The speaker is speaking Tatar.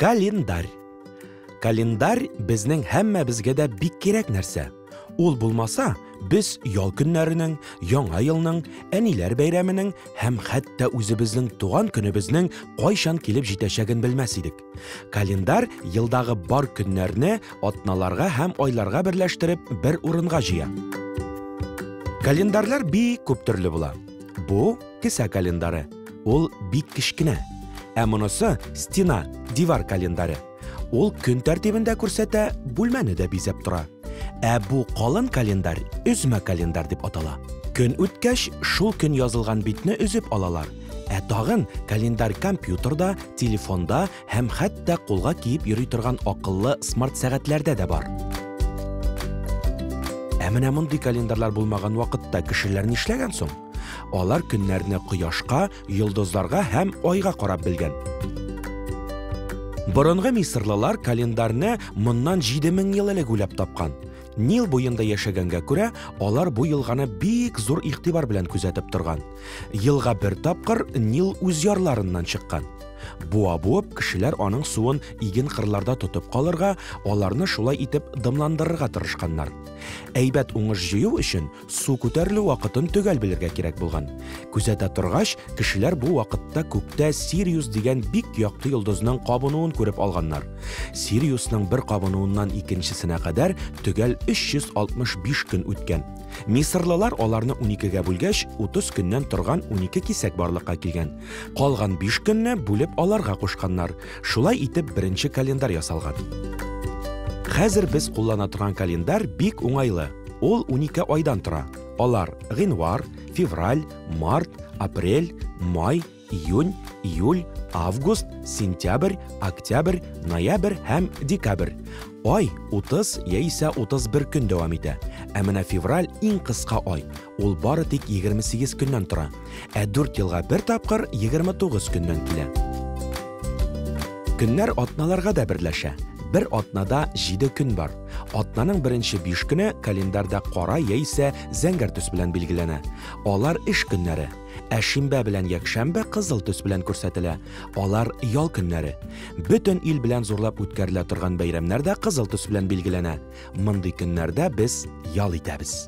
Календарь. Календарь безнең һәммәбезгә дә бик кирәк нәрсә. Ул булмаса, без ял көннәренең, яңа елның, әниләр бәйрәменең һәм хәтта үзебезнең туган көнебезнең кайчан килеп җитәчәген белмәс идек. Календарь елдагы бар көннәрне атналарга һәм айларга берләштереп бер урынга җыя. Календарьлар бик күп төрле була. Бу кесә календары. Ул бик кечкенә. Ә монысы стена, дивар календары. Ул көн тәртибендә күрсәтә, бүлмәне дә бизәп тора. Ә бу калын календарь өзмә календарь дип атала. Көн үткәч, шул көн язылган битне өзеп алалар. Ә тагын календарь компьютерда, телефонда һәм хәтта кулга киеп йөри торган акыллы смарт сәгатьләрдә дә бар. Ә менә мондый календарьлар булмаган вакытта кешеләр нишләгән соң? Алар көннәрне кояшка, йолдызларга һәм айга карап белгән. Борынгы мисырлылар календарьне моннан 7000 ел элек уйлап тапкан. Нил буенда яшәгәнгә күрә, алар бу елганы бик зур игътибар белән күзәтеп торган. Елга бер тапкыр Нил үз ярларыннан чыккан. Буа буып, кешеләр аның суын иген кырларда тотып калырга, аларны шулай итеп дымландырырга тырышканнар. Әйбәт уңыш җыю өчен су күтәрелү вакытын төгәл белергә кирәк булган. Күзәтә торгач, кешеләр бу вакытта күктә Сириус дигән бик якты йолдызның кабынуын күреп алганнар. Сириусның бер кабынуыннан икенчесенә кадәр төгәл 365 көн үткән. Мисырлылар аларны уникегә бүлгәч, 30 көннән торган унике кисәк барлыкка килгән. Калган биш көнне бүлеп аларга кушканнар. Шулай итеп беренче календарь ясалган. Хәзер без куллана торган календарь бик уңайлы. Ул унике айдан тора. Алар, гыйнвар, февраль, март, апрель, май, июнь июль август сентябрь октябрь ноябрь һәм декабрь ай 30 яисә 31 көн дәвам итә ә менә февраль иң кыска ай ул бары тик 28 көннән тора ә 4 елга бер тапкыр 29 көннән килә көннәр атналарга да берләшә бер атнада 7 көн бар атнаның беренче 5 көне календарьда кара яисә зәңгәр төс белән билгеләнә алар эш көннәре Ә шимбә белән якшәмбе кызыл төс белән күрсәтелә. Алар ял көннәре. Бөтен ил белән зурлап үткәрелә торган бәйрәмнәр дә кызыл төс белән билгеләнә. Мондый көннәрдә без ял итәбез.